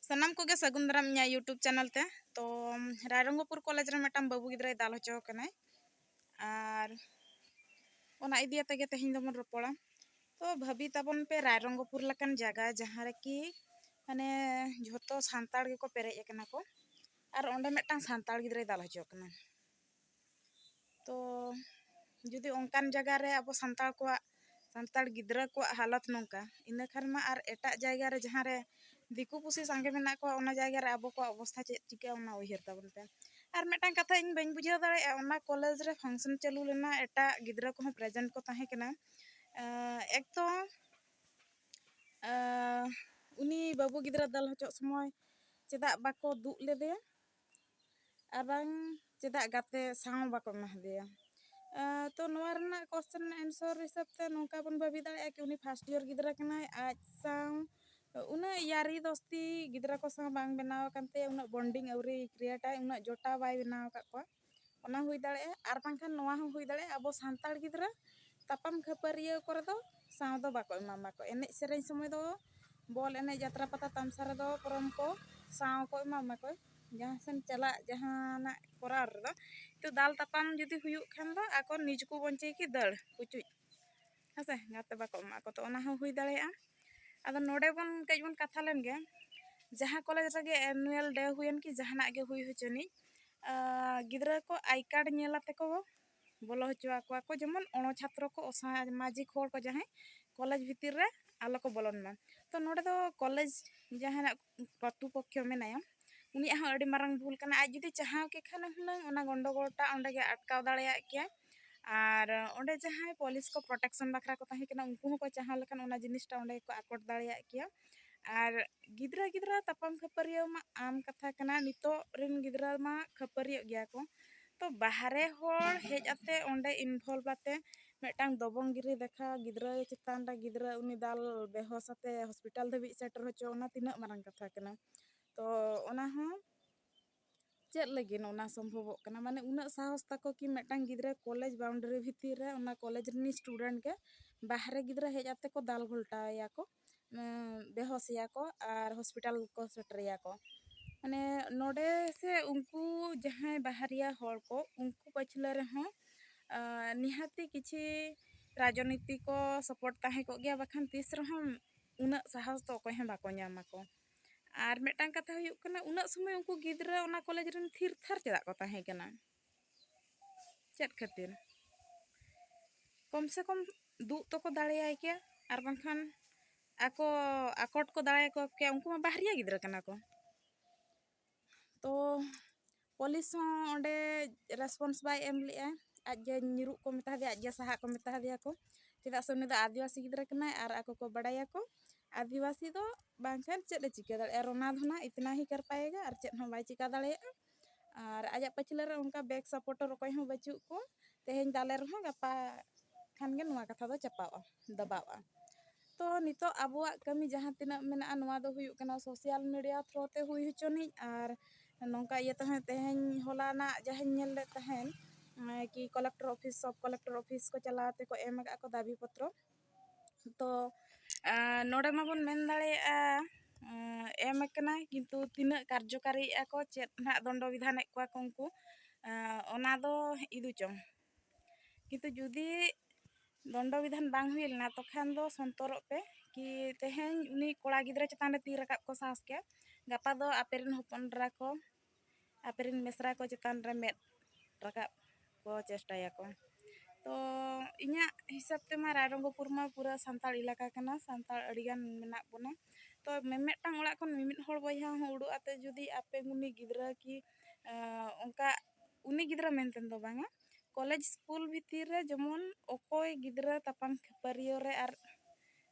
ᱥᱟᱱᱟᱢ ᱠᱚᱜᱮ ᱥᱟᱹᱜᱩᱱ ᱫᱟᱨᱟᱢ ᱤᱧᱟᱹᱜ ᱤᱭᱩᱴᱩᱵᱽ ᱪᱮᱱᱮᱞ ᱛᱮ ᱛᱚ ᱨᱟᱭᱨᱚᱝᱜᱚᱯᱩᱨ ᱠᱚᱞᱮᱡᱽ ᱨᱮ ᱢᱤᱫᱴᱟᱝ ᱵᱟᱹᱵᱩ ᱜᱤᱫᱽᱨᱟᱹᱭ ᱫᱟᱞ ᱦᱚᱪᱚ ᱟᱠᱟᱱᱟᱭ ᱟᱨ ᱚᱱᱟ ᱤᱫᱤ ᱟᱛᱮ ᱜᱮ ᱛᱮᱦᱮᱧ ᱫᱚᱵᱚᱱ ᱨᱚᱯᱚᱲᱟ ᱛᱚ ᱵᱷᱟᱹᱵᱤ ᱛᱟᱵᱚᱱ ᱯᱮ ᱨᱟᱭᱨᱚᱝᱜᱚᱯᱩᱨ ᱞᱮᱠᱟᱱ ᱡᱟᱭᱜᱟ ᱡᱟᱦᱟᱸ ᱨᱮᱠᱤ ᱢᱟᱱᱮ ᱡᱷᱚᱛᱚ ᱥᱟᱱᱛᱟᱲ ᱜᱮᱠᱚ ᱯᱮᱨᱮᱡ ᱟᱠᱟᱱᱟ ᱠᱚ ᱟᱨ ᱚᱸᱰᱮ ᱢᱤᱫᱴᱟᱝ ᱥᱟᱱᱛᱟᱲ ᱜᱤᱫᱽᱨᱟᱹᱭ ᱫᱟᱞ ᱦᱚᱪᱚ ᱟᱠᱟᱱᱟ ᱛᱚ ᱡᱩᱫᱤ ᱚᱱᱠᱟᱱ ᱡᱟᱭᱜᱟ ᱨᱮ ᱟᱵᱚ ᱥᱟᱱᱛᱟᱲ ᱠᱚᱣᱟᱜ ᱥᱟᱱᱛᱟᱲ ᱜᱤᱫᱽᱨᱟᱹ ᱠᱚᱣᱟᱜ ᱦᱟᱞᱚᱛ ᱱᱚᱝᱠᱟ ᱤᱱᱟᱹ ᱠᱷᱟᱱ ᱢᱟ ᱟᱨ ᱮᱴᱟᱜ ᱡᱟᱭᱜᱟ ᱨᱮ ᱡᱟᱦᱟᱸ ᱨᱮ ᱫᱤᱠᱩ ᱯᱩᱥᱤ ᱥᱟᱸᱜᱮ ᱢᱮᱱᱟᱜ ᱠᱚᱣᱟ ᱚᱱᱟ ᱡᱟᱭᱜᱟ ᱨᱮ ᱟᱵᱚ ᱠᱚᱣᱟᱜ ᱚᱵᱚᱥᱛᱷᱟ ᱪᱮᱫ ᱪᱤᱠᱟᱹᱜᱼᱟ ᱚᱱᱟ ᱩᱭᱦᱟᱹᱨ ᱛᱟᱵᱚᱱ ᱯᱮ ᱟᱨ ᱢᱤᱫᱴᱟᱝ ᱠᱟᱛᱷᱟ ᱤᱧ ᱵᱟᱹᱧ ᱵᱩᱡᱷᱟᱹᱣ ᱫᱟᱲᱮᱭᱟᱜᱼᱟ ᱚᱱᱟ ᱠᱚᱞᱮᱡᱽ ᱨᱮ ᱯᱷᱟᱱᱥᱮᱱ ᱪᱟᱹᱞᱩ ᱞᱮᱱᱟ ᱮᱴᱟᱜ ᱜᱤᱫᱽᱨᱟᱹ ᱠᱚᱦᱚᱸ ᱯᱨᱮᱡᱮᱱᱴ ᱠᱚ ᱛᱟᱦᱮᱸ ᱠᱟᱱᱟ ᱮᱠ ᱛᱚ ᱩᱱᱤ ᱵᱟᱹᱵᱩ ᱜᱤᱫᱽᱨᱟᱹ ᱫᱟᱞ ᱦᱚᱪᱚᱜ ᱥᱚᱢᱚᱭ ᱪᱮᱫᱟᱜ ᱵᱟᱠᱚ ᱫᱩᱜ ᱞᱮᱫᱮᱭᱟ ᱟᱨ ᱵᱟᱝ ᱪᱮᱫᱟᱜ ᱜᱟᱛᱮ ᱥᱟᱶ ᱦᱚᱸ ᱵᱟᱠᱚ ᱮᱢᱟ ᱦᱟᱫᱮᱭᱟ ᱛᱚ ᱱᱚᱣᱟ ᱨᱮᱱᱟᱜ ᱠᱚᱥᱪᱮᱱ ᱨᱮᱱᱟᱜ ᱮᱱᱥᱚᱨ ᱦᱤᱥᱟᱹᱵ ᱛᱮ ᱱᱚᱝᱠᱟ ᱵᱚᱱ ᱵᱷᱟᱹᱵᱤ ᱫᱟᱲᱮᱭᱟᱜᱼᱟ ᱠᱤ ᱩᱱᱤ ᱯᱷᱟᱥᱴ ᱤᱭᱟᱨ ᱜᱤᱫᱽᱨᱟᱹ ᱠᱟᱱᱟᱭ ᱟᱡ ᱥᱟᱶ ᱩᱱᱟᱹᱜ ᱭᱟᱹᱨᱤ ᱫᱚᱥᱛᱤ ᱜᱤᱫᱽᱨᱟᱹ ᱠᱚ ᱥᱟᱶ ᱵᱟᱝ ᱵᱮᱱᱟᱣ ᱟᱠᱟᱱ ᱛᱟᱭᱟ ᱩᱱᱟᱹᱜ ᱵᱚᱱᱰᱤᱝ ᱟᱹᱣᱨᱤ ᱠᱨᱤᱭᱮᱴ ᱟᱭ ᱩᱱᱟᱹᱜ ᱡᱚᱴᱟᱣ ᱵᱟᱭ ᱵᱮᱱᱟᱣ ᱟᱠᱟᱫ ᱠᱚᱣᱟ ᱚᱱᱟ ᱦᱩᱭ ᱫᱟᱲᱮᱭᱟᱜᱼᱟ ᱟᱨ ᱵᱟᱝᱠᱷᱟᱱ ᱱᱚᱣᱟ ᱦᱚᱸ ᱦᱩᱭ ᱫᱟᱲᱮᱭᱟᱜᱼᱟ ᱟᱵᱚ ᱥᱟᱱᱛᱟᱲ ᱜᱤᱫᱽᱨᱟᱹ ᱛᱟᱯᱟᱢ ᱠᱷᱟᱹᱯᱟᱹᱨᱤᱭᱟᱹ ᱠᱚᱨᱮ ᱫᱚ ᱥᱟᱶ ᱫᱚ ᱵᱟᱠᱚ ᱮᱢᱟᱢᱟ ᱠᱚ ᱮᱱᱮᱡ ᱥᱮᱨᱮᱧ ᱥᱚᱢᱚᱭ ᱫᱚ ᱵᱚᱞ ᱮᱱᱮᱡ ᱡᱟᱛᱨᱟ ᱯᱟᱛᱟ ᱛᱟᱢᱥᱟ ᱨᱮᱫᱚ ᱯᱚᱨᱚᱢ ᱠᱚ ᱥᱟᱶ ᱠᱚ ᱮᱢᱟᱢᱟ ᱠᱚ ᱡᱟᱦᱟᱸ ᱥᱮᱱ ᱪᱟᱞᱟᱜ ᱡᱟᱦᱟᱱᱟᱜ ᱠᱚᱨᱟᱣ ᱨᱮᱫᱚ ᱛᱚ ᱫᱟᱞ ᱛᱟᱯᱟᱢ ᱡᱩᱫᱤ ᱦᱩᱭᱩᱜ ᱠᱷᱟᱱ ᱫᱚ ᱟᱠᱚ ᱱᱤᱡᱽ ᱠᱚ ᱵᱚᱧᱪᱟᱹᱭ ᱠᱤ ᱫᱟᱹᱲ ᱯᱩᱪᱩᱡ ᱦᱮᱸ ᱥᱮ ᱜᱟᱛᱮ ᱵᱟᱠᱚ ᱮᱢᱟᱜ ᱠᱚ ᱛᱚ ᱚᱱᱟ ᱦᱚᱸ ᱦᱩᱭ ᱫᱟᱲᱮᱭᱟᱜᱼᱟ ᱟᱫᱚ ᱱᱚᱰᱮ ᱵᱚᱱ ᱠᱟᱹᱡ ᱵᱚᱱ ᱠᱟᱛᱷᱟ ᱞᱮᱱ ᱜᱮ ᱡᱟᱦᱟᱸ ᱠᱚᱞᱮᱡᱽ ᱨᱮᱜᱮ ᱮᱱᱩᱭᱮᱞ ᱰᱮ ᱦᱩᱭᱮᱱ ᱠᱤ ᱡᱟᱦᱟᱱᱟᱜ ᱜᱮ ᱦᱩᱭ ᱦᱚᱪᱚᱱᱤᱡ ᱜᱤᱫᱽᱨᱟᱹ ᱠᱚ ᱟᱭ ᱠᱟᱨᱰ ᱧᱮᱞ ᱟᱛᱮ ᱠᱚ ᱵᱚᱞᱚ ᱦᱚᱪᱚ ᱟᱠᱚᱣᱟ ᱠᱚ ᱡᱮᱢᱚᱱ ᱚᱬᱚ ᱪᱷᱟᱛᱨᱚ ᱠᱚ ᱚᱥᱟᱢᱟᱡᱤᱠ ᱦᱚᱲ ᱠᱚ ᱡᱟᱦᱟᱸᱭ ᱠᱚᱞᱮᱡᱽ ᱵᱷᱤᱛᱤᱨ ᱨᱮ ᱟᱞᱚ ᱠᱚ ᱵᱚᱞᱚᱱ ᱢᱟ ᱛᱚ ᱱᱚᱰᱮ ᱫᱚ ᱠᱚᱞᱮᱡᱽ ᱡᱟᱦᱟᱱᱟᱜ ᱠᱚᱨᱛᱩ ᱯᱚᱠᱠᱷᱚ ᱢᱮᱱᱟᱭᱟ ᱩᱱᱤᱭᱟᱜ ᱦᱚᱸ ᱟᱹᱰᱤ ᱢᱟᱨᱟᱝ ᱵᱷᱩᱞ ᱠᱟᱱᱟ ᱟᱡ ᱡᱩᱫᱤ ᱪᱟᱦᱟᱣ ᱠᱮ ᱠᱷᱟᱱ ᱦᱩᱱᱟᱹᱝ ᱚᱱᱟ ᱜᱚᱱᱰᱚᱜᱳᱞ ᱴᱟᱜ ᱚᱸᱰᱮ ᱜᱮ ᱟᱴᱠᱟᱣ ᱫᱟᱲᱮᱭᱟᱜ ᱠᱮᱭᱟᱭ ᱟᱨ ᱚᱸᱰᱮ ᱡᱟᱦᱟᱸᱭ ᱯᱚᱞᱤᱥ ᱠᱚ ᱯᱨᱚᱴᱮᱠᱥᱚᱱ ᱵᱟᱠᱷᱨᱟ ᱠᱚ ᱛᱟᱦᱮᱸ ᱠᱟᱱᱟ ᱩᱱᱠᱩ ᱦᱚᱸᱠᱚ ᱪᱟᱦᱟᱣ ᱞᱮᱠᱷᱟᱱ ᱚᱱᱟ ᱡᱤᱱᱤᱥᱴᱟ ᱚᱸᱰᱮ ᱜᱮᱠᱚ ᱟᱠᱚᱴ ᱫᱟᱲᱮᱭᱟᱜ ᱠᱮᱭᱟ ᱟᱨ ᱜᱤᱫᱽᱨᱟᱹ ᱜᱤᱫᱽᱨᱟᱹ ᱛᱟᱯᱟᱢ ᱠᱷᱟᱹᱯᱟᱹᱨᱤᱭᱟᱹ ᱢᱟ ᱟᱢ ᱠᱟᱛᱷᱟ ᱠᱟᱱᱟ ᱱᱤᱛᱚᱜ ᱨᱮᱱ ᱜᱤᱫᱽᱨᱟᱹ ᱢᱟ ᱠᱷᱟᱹᱯᱟᱹᱨᱤᱭᱟᱹᱜ ᱜᱮᱭᱟ ᱠᱚ ᱛᱚ ᱵᱟᱦᱨᱮ ᱦᱚᱲ ᱦᱮᱡ ᱟᱛᱮ ᱚᱸᱰᱮ ᱤᱱᱵᱷᱚᱞᱵᱷ ᱟᱛᱮ ᱢᱤᱫᱴᱟᱝ ᱫᱚᱵᱚᱝ ᱜᱤᱨᱤ ᱫᱮᱠᱷᱟ ᱜᱤᱫᱽᱨᱟᱹ ᱪᱮᱛᱟᱱ ᱨᱮ ᱜᱤᱫᱽᱨᱟᱹ ᱩᱱᱤ ᱫᱟᱞ ᱵᱮᱦᱚᱥ ᱟᱛᱮ ᱦᱚᱥᱯᱤᱴᱟᱞ ᱫᱷᱟᱹᱵᱤᱡ ᱥᱮᱴᱮᱨ ᱦᱚᱪᱚ ᱚᱱᱟ ᱛᱤᱱᱟᱹᱜ ᱢᱟᱨᱟᱝ ᱠᱟᱛᱷᱟ ᱠᱟᱱᱟ ᱛᱚ ᱚᱱᱟ ᱦᱚᱸ ᱪᱮᱫ ᱞᱟᱹᱜᱤᱫ ᱚᱱᱟ ᱥᱚᱢᱵᱷᱚᱵᱚᱜ ᱠᱟᱱᱟ ᱢᱟᱱᱮ ᱩᱱᱟᱹᱜ ᱥᱟᱦᱚᱥ ᱛᱟᱠᱚ ᱠᱤ ᱢᱤᱫᱴᱟᱝ ᱜᱤᱫᱽᱨᱟᱹ ᱠᱚᱞᱮᱡᱽ ᱵᱟᱣᱩᱱᱰᱟᱨᱤ ᱵᱷᱤᱛᱤᱨ ᱨᱮ ᱚᱱᱟ ᱠᱚᱞᱮᱡᱽ ᱨᱤᱱᱤᱡ ᱥᱴᱩᱰᱮᱱᱴ ᱜᱮ ᱵᱟᱦᱨᱮ ᱜᱤᱫᱽᱨᱟᱹ ᱦᱮᱡ ᱠᱟᱛᱮᱫ ᱠᱚ ᱫᱟᱞ ᱜᱷᱚᱞᱴᱟᱣ ᱮᱭᱟ ᱠᱚ ᱵᱮᱦᱚᱥ ᱮᱭᱟ ᱠᱚ ᱟᱨ ᱦᱚᱥᱯᱤᱴᱟᱞ ᱠᱚ ᱥᱮᱴᱮᱨᱮᱭᱟ ᱠᱚ ᱢᱟᱱᱮ ᱱᱚᱰᱮ ᱥᱮ ᱩᱱᱠᱩ ᱡᱟᱦᱟᱸᱭ ᱵᱟᱦᱨᱮᱭᱟ ᱦᱚᱲ ᱠᱚ ᱩᱱᱠᱩ ᱯᱟᱹᱪᱷᱞᱟᱹ ᱨᱮᱦᱚᱸ ᱱᱤᱦᱟᱹᱛᱤ ᱠᱤᱪᱷᱤ ᱨᱟᱡᱽᱱᱤᱛᱤ ᱠᱚ ᱥᱟᱯᱳᱨᱴ ᱛᱟᱦᱮᱸ ᱠᱚᱜ ᱜᱮᱭᱟ ᱵᱟᱠᱷᱟᱱ ᱛᱤᱥ ᱨᱮᱦᱚᱸ ᱩᱱᱟᱹᱜ ᱥᱟᱦᱚᱥ ᱫᱚ ᱚᱠᱚᱭ ᱦᱚᱸ ᱵᱟᱠᱚ ᱧᱟᱢᱟᱠᱚ ᱟᱨ ᱢᱤᱫᱴᱟᱝ ᱠᱟᱛᱷᱟ ᱦᱩᱭᱩᱜ ᱠᱟᱱᱟ ᱩᱱᱟᱹᱜ ᱥᱚᱢᱚᱭ ᱩᱱᱠᱩ ᱜᱤᱫᱽᱨᱟᱹ ᱚᱱᱟ ᱠᱚᱞᱮᱡᱽ ᱨᱮᱱ ᱛᱷᱤᱨ ᱛᱷᱟᱨ ᱪᱮᱫᱟᱜ ᱠᱚ ᱛᱟᱦᱮᱸ ᱠᱟᱱᱟ ᱪᱮᱫ ᱠᱷᱟᱹᱛᱤᱨ ᱠᱚᱢ ᱥᱮ ᱠᱚᱢ ᱫᱩᱜ ᱛᱚᱠᱚ ᱫᱟᱲᱮᱭᱟᱭ ᱠᱮᱭᱟ ᱟᱨ ᱵᱟᱝᱠᱷᱟᱱ ᱟᱠᱚ ᱟᱠᱚᱴ ᱠᱚ ᱫᱟᱲᱮᱭᱟᱠᱚ ᱠᱮᱭᱟ ᱩᱱᱠᱩ ᱢᱟ ᱵᱟᱦᱨᱮ ᱜᱤᱫᱽᱨᱟᱹ ᱠᱟᱱᱟ ᱠᱚ ᱛᱚ ᱯᱚᱞᱤᱥ ᱦᱚᱸ ᱚᱸᱰᱮ ᱨᱮᱥᱯᱚᱱᱥ ᱵᱟᱭ ᱮᱢ ᱞᱮᱫᱼᱟ ᱟᱡ ᱜᱮ ᱧᱤᱨᱩᱜ ᱠᱚ ᱢᱮᱛᱟ ᱫᱮᱭᱟ ᱟᱡ ᱜᱮ ᱥᱟᱦᱟᱜ ᱠᱚ ᱢᱮᱛᱟ ᱫᱮᱭᱟ ᱠᱚ ᱪᱮᱫᱟᱜ ᱥᱮ ᱩᱱᱤ ᱫᱚ ᱟᱹᱫᱤᱵᱟᱹᱥᱤ ᱜᱤᱫᱽᱨᱟᱹ ᱠᱟᱱᱟᱭ ᱟᱨ ᱟᱠᱚ ᱠᱚ ᱵᱟᱲᱟᱭᱟ ᱠᱚ ᱟᱹᱫᱤᱵᱟᱹᱥᱤ ᱫᱚ ᱵᱟᱝ ᱠᱷᱟᱱ ᱪᱮᱫ ᱮ ᱪᱤᱠᱟᱹ ᱫᱟᱲᱮᱭᱟᱜᱼᱟ ᱨᱳᱱᱟ ᱫᱷᱳᱱᱟ ᱤᱛᱱᱟ ᱦᱤ ᱠᱟᱨ ᱯᱟᱭᱮᱜᱟ ᱟᱨ ᱪᱮᱫ ᱦᱚᱸ ᱵᱟᱭ ᱪᱤᱠᱟᱹ ᱫᱟᱲᱮᱭᱟᱜᱼᱟ ᱟᱨ ᱟᱡᱟᱜ ᱯᱟᱹᱪᱷᱞᱟᱹ ᱨᱮ ᱚᱱᱠᱟ ᱵᱮᱠ ᱥᱟᱯᱚᱴᱚᱨ ᱚᱠᱚᱭ ᱦᱚᱸ ᱵᱟᱹᱪᱩᱜ ᱠᱚᱣᱟ ᱛᱮᱦᱮᱧ ᱫᱟᱞᱮ ᱨᱮᱦᱚᱸ ᱜᱟᱯᱟ ᱠᱷᱟᱱ ᱜᱮ ᱱᱚᱣᱟ ᱠᱟᱛᱷᱟ ᱫᱚ ᱪᱟᱯᱟᱜᱼᱟ ᱫᱟᱵᱟᱜᱼᱟ ᱛᱚ ᱱᱤᱛᱚᱜ ᱟᱵᱚᱣᱟᱜ ᱠᱟᱹᱢᱤ ᱡᱟᱦᱟᱸ ᱛᱤᱱᱟᱹᱜ ᱢᱮᱱᱟᱜᱼᱟ ᱱᱚᱣᱟ ᱫᱚ ᱦᱩᱭᱩᱜ ᱠᱟᱱᱟ ᱥᱳᱥᱟᱞ ᱢᱤᱰᱤᱭᱟ ᱛᱷᱨᱳ ᱛᱮ ᱦᱩᱭ ᱦᱚᱪᱚᱱᱤᱡ ᱟᱨ ᱱᱚᱝᱠᱟ ᱤᱭᱟᱹ ᱛᱮᱦᱚᱸ ᱛᱮᱦᱮᱧ ᱦᱚᱞᱟᱱᱟᱜ ᱡᱟᱦᱟᱸᱧ ᱧᱮᱞ ᱞᱮᱫ ᱛᱟᱦᱮᱱ ᱠᱤ ᱠᱚᱞᱮᱠᱴᱚᱨ ᱚᱯᱷᱤᱥ ᱥᱚᱵ ᱠᱚᱞᱮᱠᱴᱚᱨ ᱚᱯᱷᱤᱥ ᱠᱚ ᱪᱟᱞᱟᱣ ᱛᱮᱠᱚ ᱮᱢ ᱠᱟᱜᱼᱟ ᱠᱚ ᱫᱟᱹᱵᱤ ᱯᱚᱛᱨᱚ ᱛᱚ ᱱᱚᱰᱮ ᱢᱟᱵᱚᱱ ᱢᱮᱱ ᱫᱟᱲᱮᱭᱟᱜᱼᱟ ᱮᱢ ᱠᱟᱱᱟ ᱠᱤᱱᱛᱩ ᱛᱤᱱᱟᱹᱜ ᱠᱟᱨᱡᱚᱠᱟᱨᱤᱭᱮᱜᱼᱟ ᱠᱚ ᱪᱮᱫ ᱦᱟᱸᱜ ᱫᱚᱱᱰᱚ ᱵᱤᱫᱷᱟᱱᱮᱜ ᱠᱚᱣᱟ ᱠᱚ ᱩᱱᱠᱩ ᱚᱱᱟ ᱫᱚ ᱤᱫᱤ ᱪᱚᱝ ᱠᱤᱱᱛᱩ ᱡᱩᱫᱤ ᱫᱚᱱᱰᱚ ᱵᱤᱫᱷᱟᱱ ᱵᱟᱝ ᱦᱩᱭ ᱞᱮᱱᱟ ᱛᱚᱠᱷᱟᱱ ᱫᱚ ᱥᱚᱱᱛᱚᱨᱚᱜ ᱯᱮ ᱠᱤ ᱛᱮᱦᱮᱧ ᱩᱱᱤ ᱠᱚᱲᱟ ᱜᱤᱫᱽᱨᱟᱹ ᱪᱮᱛᱟᱱ ᱨᱮ ᱛᱤ ᱨᱟᱠᱟᱵ ᱠᱚ ᱥᱟᱦᱚᱥ ᱠᱮᱭᱟ ᱜᱟᱯᱟ ᱫᱚ ᱟᱯᱮ ᱨᱮᱱ ᱦᱚᱯᱚᱱ ᱮᱨᱟ ᱠᱚ ᱟᱯᱮ ᱨᱮᱱ ᱢᱤᱥᱨᱟ ᱠᱚ ᱪᱮᱛᱟᱱ ᱨᱮ ᱢᱮᱫ ᱨᱟᱠᱟᱵ ᱠᱚ ᱪᱮᱥᱴᱟᱭᱟᱠᱚ ᱛᱚ ᱤᱧᱟᱹᱜ ᱦᱤᱥᱟᱹᱵ ᱛᱮᱢᱟ ᱨᱟᱭᱨᱚᱝᱜᱚᱯᱩᱨ ᱢᱟ ᱯᱩᱨᱟᱹ ᱥᱟᱱᱛᱟᱲ ᱮᱞᱟᱠᱟ ᱠᱟᱱᱟ ᱥᱟᱱᱛᱟᱲ ᱟᱹᱰᱤ ᱜᱟᱱ ᱢᱮᱱᱟᱜ ᱵᱚᱱᱟ ᱛᱚ ᱢᱤᱢᱤᱫᱴᱟᱝ ᱚᱲᱟᱜ ᱠᱷᱚᱱ ᱢᱤᱢᱤᱫ ᱦᱚᱲ ᱵᱚᱭᱦᱟ ᱦᱚᱸ ᱩᱰᱩᱠ ᱠᱟᱛᱮ ᱡᱩᱫᱤ ᱟᱯᱮ ᱩᱱᱤ ᱜᱤᱫᱽᱨᱟᱹ ᱠᱤ ᱚᱱᱠᱟ ᱩᱱᱤ ᱜᱤᱫᱽᱨᱟᱹ ᱢᱮᱱᱛᱮ ᱫᱚ ᱵᱟᱝᱟ ᱠᱚᱞᱮᱡᱽ ᱥᱠᱩᱞ ᱵᱷᱤᱛᱤᱨ ᱨᱮ ᱡᱮᱢᱚᱱ ᱚᱠᱚᱭ ᱜᱤᱫᱽᱨᱟᱹ ᱛᱟᱯᱟᱢ ᱠᱷᱟᱹᱯᱟᱹᱨᱤᱭᱟᱹ ᱨᱮ ᱟᱨ